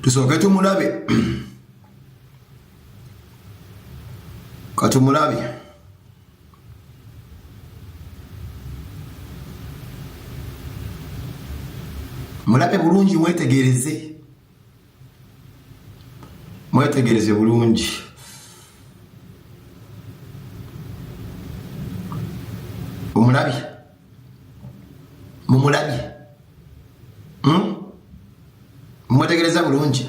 tusooke tumulabe katumulabe mulabe bulungi mwetegereze mwetegereze bulungi omulabye mumulabye hmm? mwetegereza bulungi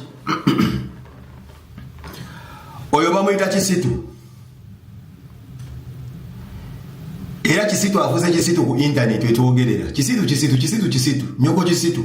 oyo bamuyita kisitu era kisitu afuze kisitu ku intaneti wetwogerera kisitu kisitu kisitu kisitu nyoko kisitu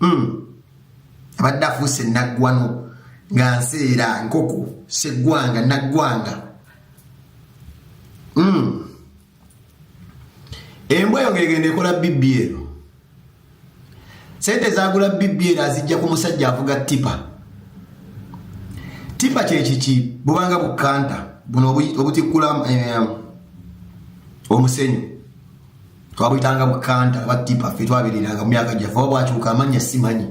hmm. abadde afuuse naggwano nga nseera nkoko seggwanga naggwanga hmm. embwa eyo ngegenda ekola bibbi ero sente zagula bibbi ero azijja ku musajja avuga tipa tipa kyekiki bubanga bukanta buno obutikkula eh, omusenyu twabuyitanga bukanta aba tipa ffe twabiriranga mu myaka gyaffe oba bwakyuka amannya simanyi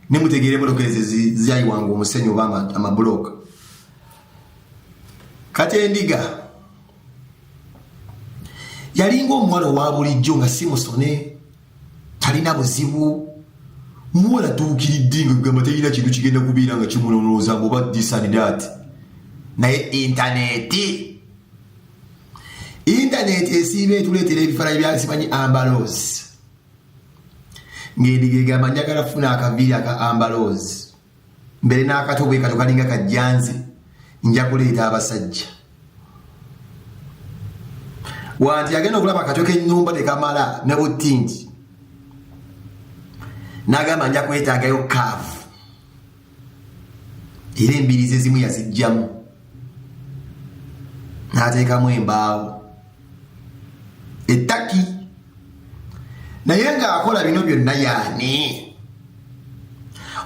ne mutegeera emotoka ezo zyayiwanga omusenyu oba amabulooka kati endiga yalinga omuwala owa bulijjo nga si musone talina buzibu muwala tuukiridde nga gamba talina kintu kigenda kubeera nga kimunonooza ngoba disanidaati naye intaneti Internet esiiba etuleetera ebifaananyi bya simanyi ambaloozi ng'endiga egamba njagala funa akaviiri aka ambaloozi mbere n'akato bwe kato kalinga kajjanzi nja kuleeta abasajja wanti agenda okulaba akato k'ennyumba tekamala ne buttingi n'agamba nja kwetaagayo kaavu era embirizi ezimu yazijjamu n'ateekamu embaawo ettaki naye ng'akola bino byonna yaani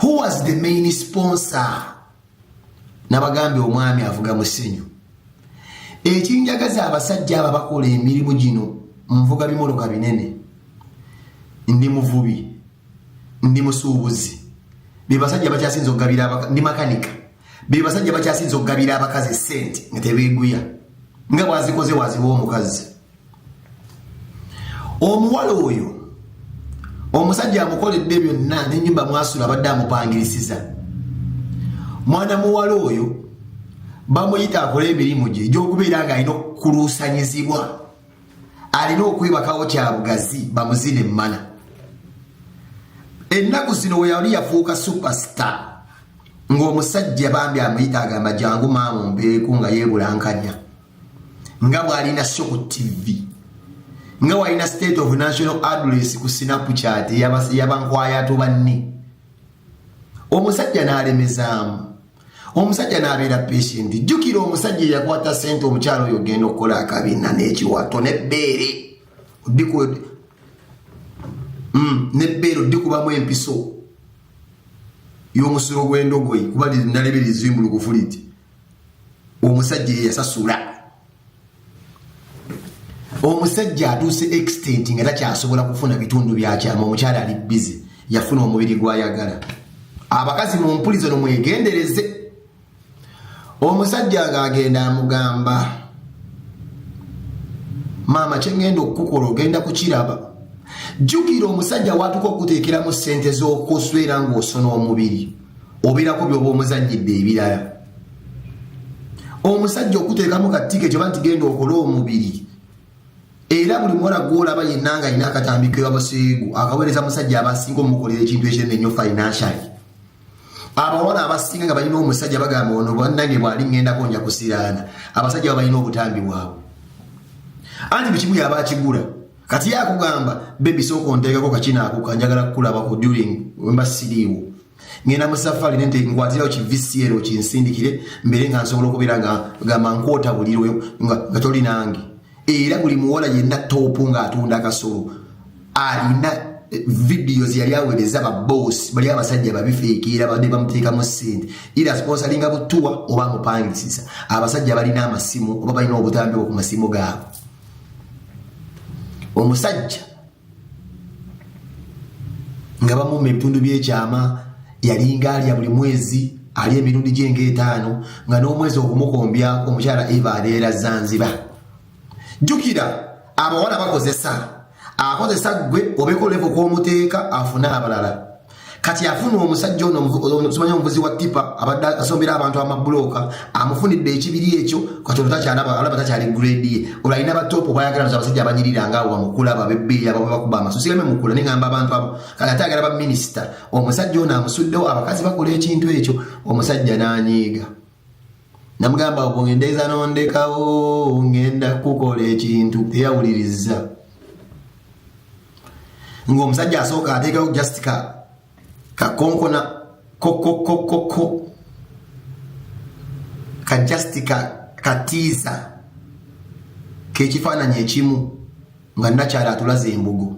who was the main sponsor nabagambye omwami avuga musenyu ekinjagaza abasajja abo abakola emirimu gino nvuga bimoloka binene ndi muvubi ndi musuubuzi bebasajja bakyasinza okugabira ndi makanika bebasajja bakyasinza okugabira abakazi sente nga tebeguya nga bwazikoze waziwa omukazi omuwala oyo omusajja amukoledde byonna nenyumba mwasula abadde amupangirisiza mwana muwala oyo bamuyita akole emirimu gye egyokubeera nga alina okukuluusanyizibwa alina okwebakawo kya bugazi bamuzina emmana ennaku zino we yali yafuuka superstar ng'omusajja bambi amuyita agamba jangu maamu mbeeku nga yeebulankanya nga bw'alina sho ku tivi nga walina state of national address ku sinapu kyati yabankwayatu banne omusajja n'alemezaamu omusajja n'abeera patient jjukira omusajja eyakwata sente omukyalo oyo ogenda okukola akabina n'ekiwato nebbeere mm, nebbeere oddikubamu empiso y'omusulo gw'endogoyi kuba nalebera ezimbulukufu liti omusajja eyasasula omusajja atuuse extent nga takyasobola kufuna bitundu byakyama omukyala ali bizi yafuna omubiri gwayagala abakazi mumpulizo nomwegendereze omusajja ngaagenda amugamba maama kyengenda okukukola ogenda kukiraba jjukira omusajja watuka okuteekeramu sente z'okuswera ng'osona omubiri obeerako byoba omuzanyidde ebirala omusajja okuteekamu kattiiko ekyo ba nti genda okole omubiri era buli muwala gwolaba yenna nga alina akatambi kewabaseegu akaweereza musajja abasinga omukolera ekintu ekinene ennyo financially abawala abasinga nga balina omusajja bagamba ono bannange bwali ŋŋendako nja kusiraana abasajja ba balina obutambi bwabwe anti buli kimu yaba akigula kati yakugamba bebi sooka onteekako kakinaako kanjagala kukulabako during wemba siriiwo ngenda mu safari nente nkwatirawo ki vcr okinsindikire mbere nga nsobola okubeera nga gamba nkwota buliro nga toli nange era buli muwala yenna toopu ng'atunda akasolo alina eh, vidiyo zeyali awereza baboosi bali abasajja babifeekeera badde bamuteekamu ssente era sponsalinga butuwa oba amupangisiza abasajja balina amasimu oba balina obutambi bwo ku masimu gaabwe omusajja nga bamu mu ebitundu by'ekyama yalinga alya buli mwezi ali emirundi gyenga etaano nga n'omwezi okumukombyako omukyala eva abeera zanziba jjukira abawala bakozesa akozesa ggwe obekolevo kwomuteeka afune abalala kati afuna omusajja ono omusimanyi omuvuzi wa tipa abadde asombera abantu amabulooka amufunidde ekibiri ekyo kati olutakyalaba takyali grade ye olwalina batop bayagala nza abasajja abanyirira nga wamukulaba bebbeeyi abo bakuba amaso sigame mukula nengamba abantu abo kati ate agala baminisita omusajja ono amusuddewo abakazi bakola ekintu ekyo omusajja nanyiiga namugamba bwendeeza nondekawo ngenda kukola ekintu eyawuliriza ngaomusajja asooka ateekawo just ka kakonkona kokokokoko ka just ka katiisa kekifaananyi ekimu nga nakyala atulaze embugo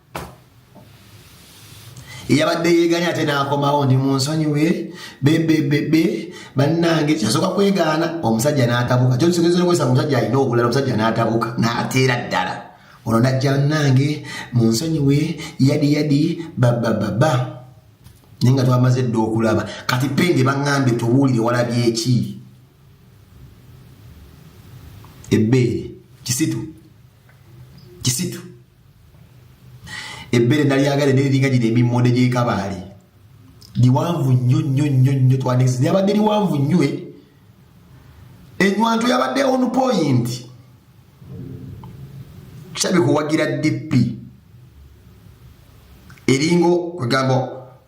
eyabadde yeeganye ate n'akomawo ndi mu nsonyiwe bebebebe bannange kyasooka kwegaana omusajja n'atabuka kyokisogezokwesa omusajja alina obulala omusajja n'atabuka n'ateera ddala ono najja bannange mu nsonyiwe yadi yadi babababa naye nga twamaze edda okulaba kati penge baŋŋambye tubuulire walabyeki ebbeere kisitu kisitu ebbere nalyagale neriringa gino emimonde gyekabaali liwanvu nnyo nnyo nnyo nnyo twandikiza lyabadde liwanvu nnyo eh? enywanto yabadde on point kitabe kuwagira dp eringo kwegamba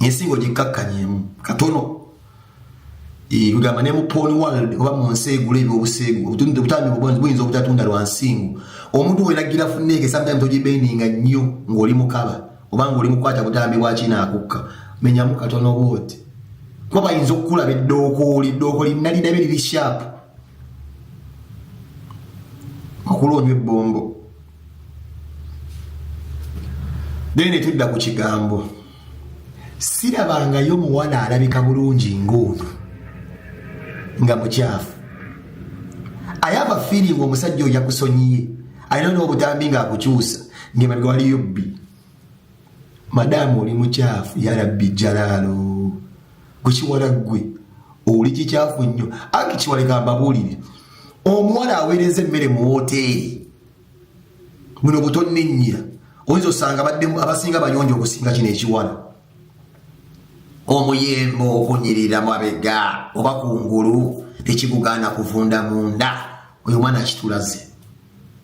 ensi ng'ogikkakkanyemu katono kugamba ne mu pon world oba mu nsi egula ebyobuseegu obutambi buyinza obutatunda lwa nsingo omuntu weragira funneeke sometimes ogibendinga nnyo ng'oli mukaba oba ng'oli mukwata butambi bwakinaakukka menyamu katono bwoti kuba bayinza okukulaba eddookooli ddookooli nalinabe liri shaapu okulwa onywa ebbombo naye ne tudda ku kigambo sirabangayo muwala alabika bulungi ng'ono nga mukyafu ayaba fiiringi omusajja oyo yakusonyiye alina n'obutambi ng'akukyusa ng'emabega waliyo bbi madaamu oli mukyafu yarabbi jalaalo gwe kiwala ggwe oli kikyafu nnyo anti kiwaleka mbabuulire omuwala aweereza emmere mu wooteeri buno butonninnyira oyinza osanga abasinga bayonja okusinga kino ekiwala omuyembe okunyirira mabega oba ku ngulu tekigugaana kuvunda munda oyo omwana akitulaze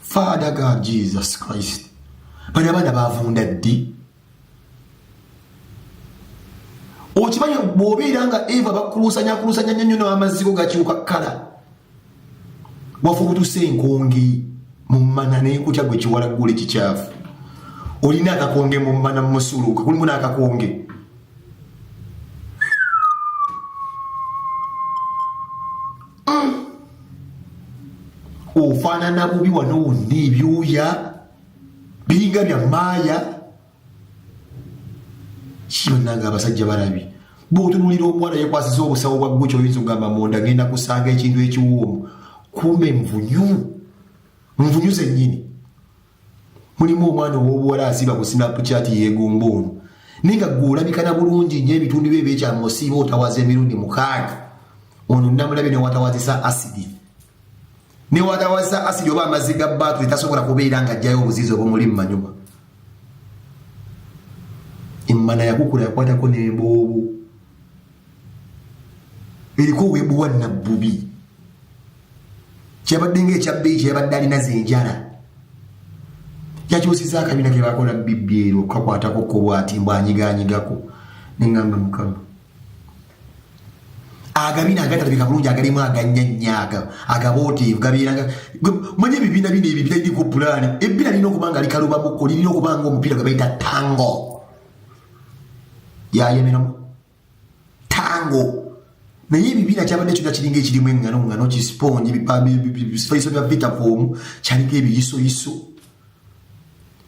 Father God Jesus Christ. Bana bana bavunda ddi? Okimanyi bw'obeera nga Eva bakuluusanya akuluusanya nnyo nnyo n'amazigo gakyuka kkala. Wafa obutuse enkonge mu mmana n'ekutya gwe kiwalaggula ekikyafu. Olina akakonge mu mmana mu musuluuka, kulimu n'akakonge. ofaanana bubi wano wonna ebyuya biringa bya maaya kiyonanga abasajja balabi bwotunulira omuwala yekwasiza obusawo bwa guki oyinza ogamba munda genda kusanga ekintu ekiwoomu kumbe nvunyu nvunyu zenyini mulimu omwana ow'obuwala asiba ku snapchat yeegomba ono naye nga gwe olabikana bulungi nyo ebitundu byo ebyekyama osiiba otawaza emirundi mukaaga ono namulabye newatawazisa asidi newatawazisa asidi oba amazzi ga baatu etasobola kubeera nga ajjayo obuziizi obumuli mu manyuma emmana yakukula yakwatako n'emboobu eriko webuwa nabbubi kyabadde nga ekyabbeyi kyeyabadde alina zenjala yakyusiza akabina kebakola bibbi ero kakwatako kobwati mbu anyiganyigako nengamba mukama agabina agatalabika bulungi agalimu aganyanyaga agabooteevu gabeeranga manya ebibiina bino ebyo biraliko pulaani ebbina lirina okuba nga likalubamuko lirina okuba nga omupiira gwe bayita tango yayemeramu tango naye ebibiina kyabadde kyona kiringa ekirimu engano ngano kisiponji bifaiso bya vitafomu kyaliko ebiyisoyiso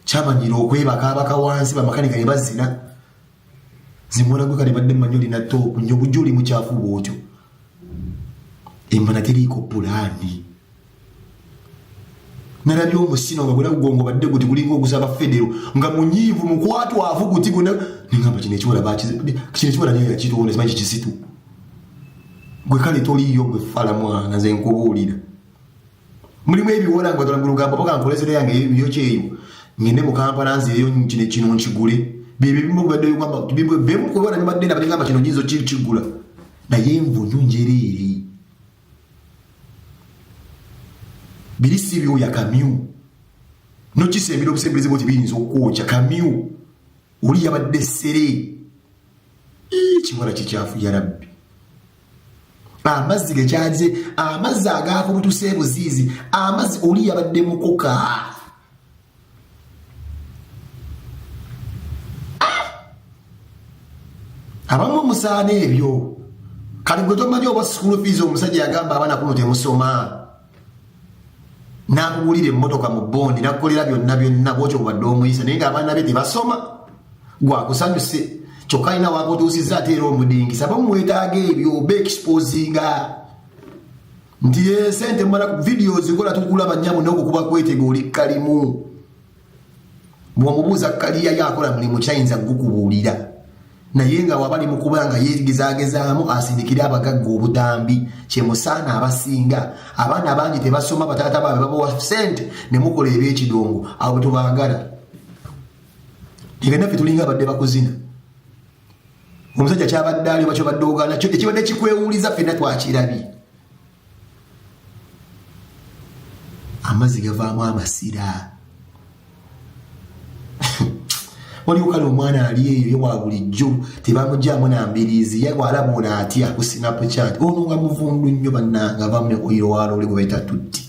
kyamanyira okwebaka abaka wansi bamakanika ne bazina zimwana gwe kale badde manyi olina toopu nyo bujja oli mukyafu bwotyo embana teriiko pulaani nalabye omusino nga gwena gugongo badde guti gulinga ogusaba federo nga munyiivu mukwatwavu guti guna nengamba kino ekiwala kino ekiwala niyo yakituwona simanyi kikisitu gwe kale toliiyo gwe fala mwana nze nkubuulira mulimu ebiwala nga batwala mulugambo paka nkolesera yange yo kyeyo ngende mu kampala nzeeyo kino kino nkigule byebyo bimu bibadde bigamba bimwe bimwe kubona bibadde na bigamba kino nyinzo kiri kigula naye mvunyu njereere biri si byoya kamyu nokisembera obusembereze bwoti biyinza okwokya kamyu oli yabadde sere ekiwala kikyafu yarabbi amazzi gekyaze amazzi agaakubutuse ebuziizi amazzi oli yabadde mukoka abamu musaana ebyo kati gwe tomanyi oba school fees omusajja yagamba abaana kuno temusoma nakugulira emmotoka mu bondi nakukolera byonna byonna bwotyo bubadde omuyisa naye ngaabaana be tebasoma gwakusanyuse kyokka alina wakutuusiza ate era omudingisa bamuwetaaga ebyo oba exposinga nti ye sente mala ku video zikola tukulaba nyabo noko kuba kwetega oli kalimu bwomubuuza kaliya yakola mulimu kyayinza gukubuulira naye nga wabali mukuba nga yegezagezaamu asindikire abagagga obutambi kyemusaana abasinga abaana bangi tebasoma bataata baabe babawa sente ne mukola ebyekidongo abo tubagala ebenaffe tulinga abadde bakuzina omusajja kyabadde ali oba kyobadde ogaana kyo ekibadde kikwewuliza fenna twakirabye amazzi gavaamu amasira waliwo kale omwana ali eyo ye wa bulijjo tebamugyamu na mbiriizi ye walaba ono atya ku sinapu chat ono nga muvundu nnyo bannanga vamu ne oyiro waloole gwe bayita tutti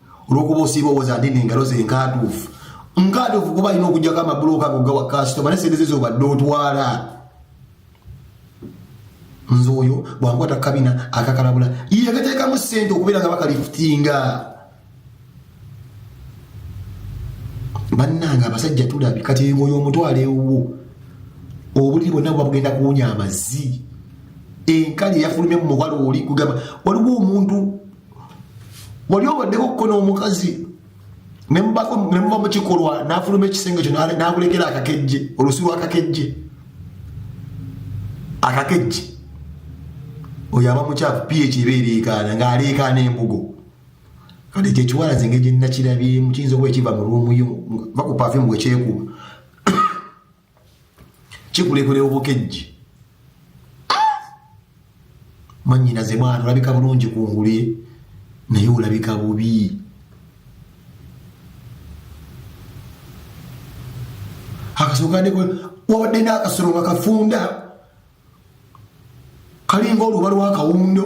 olwokuba osiiba owoza ndi nengalo ze nkaatuufu nkaatuufu kuba alina okujjako amabuloka ago gawa kasitoma ne sente ze zobadde otwala nze oyo bwankwata kukabina akakalabula yegateekamu sente okubeera nga bakalifutinga bannange abasajja tulabi kati engoyo omutwalo ewuwo obuliri bonna buba bugenda kuwunya amazzi enkali eyafulumye mu muwala oli kugamba waliwo omuntu wali obaddeko kuko n'omukazi nemuva mu kikolwa n'afuluma ekisenge kyo n'akulekera akakejje olusi lwakakejje akakejje oyo aba mukyafu ph eba ereekaana ng'aleekaana embugo kati ekyo ekiwala zenge gye nnakirabyemu kiyinza okuba ekiva mu lwomuyo va ku pafimu bwekyekuba kikulekule obukejji manyinaze mwana olabika bulungi ku ngulu ye naye olabika bubi akasukadeko wabadde n'akasolo nga kafunda kalinga oluba lwakawundo